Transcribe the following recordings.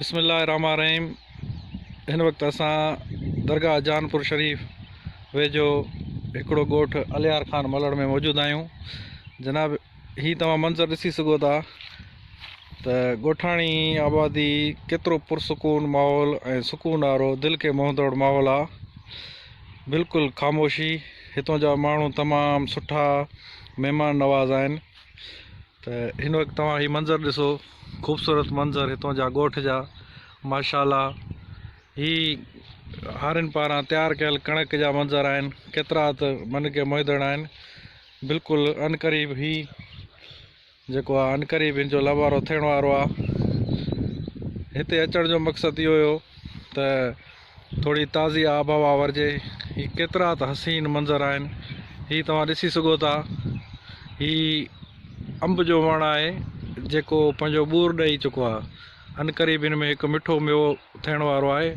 بسم الله الرحمٰن الرحيم هن وقت اسان درگاهه جان پور شريف ويجهو هڪڙو ڳوٺ الهيار خان ملڙ ۾ موجود آهيون جناب هي توهان منظر ڏسي سگهو ٿا ته ڳوٺاڻي آبادي ڪيترو پرسڪون ماحول ۽ سڪون وارو دل کي موهندڙ ماحول آ بلڪل خاموشي هتون جا ماڻهو تمام سٺا مهمان نواز آهن ته هن وقت توهان هي منظر ڏسو خوبصورت منظر هتان جا ڳوٺ جا ماشاءالله هي هارين پاران تيار ڪيل ڪڻڪ جا منظر آهن ڪيترا ته من کي موهيندڙ آهن بلڪل ان قريب هي جيڪو آهي ان قريب هن جو لهوارو ٿيڻ وارو آهي هتي اچڻ جو مقصد اهو هيو ته ٿوري تازي آب هوا ورجي هي ڪيترا ته حسين منظر آهن هي توهان ڏسي سگهو ٿا هي انب جو وڻ آهي جيڪو پنهنجو ٻور ڏئي چڪو آهي ان ڪري به هن ۾ هڪ مٺو ميوو ٿيڻ وارو آهي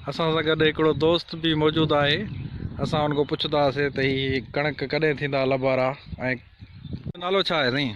اسان سان گڏ هڪڙو دوست به موجود آهي اسان ان کان پڇنداسي ته هي ڪڻڪ ڪڏهن ٿيندا لبارا ۽ نالو ڇا آهي سائين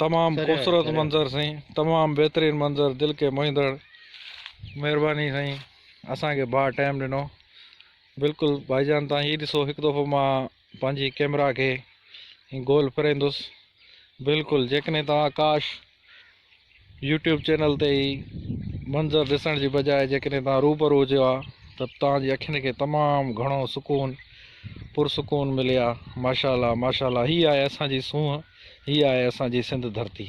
تمام خوبصورت منظر سائين تمام بهترين منظر دل کي موهيندڙ مهرباني سائين اسان کي ڀاء ٽائيم ڏنو بلڪل ڀائي جان تان هي ڏسو هڪ دفعو مان پنهنجي ڪيمرا کي گول ڦريندس بلڪل جيڪڏهن توهان ڪاش يوٽيوب چينل تي هي منظر ڏسڻ جي بجاء جيڪڏهن توهان روبرو هجو ها ته توهان جي اکين کي تمام گهڻو سڪون پرسڪون ملي ها ماشاء الله ماشاء الله هي آهي اسان جي سونهن هي آهي اسان جي سنڌ ڌرتي.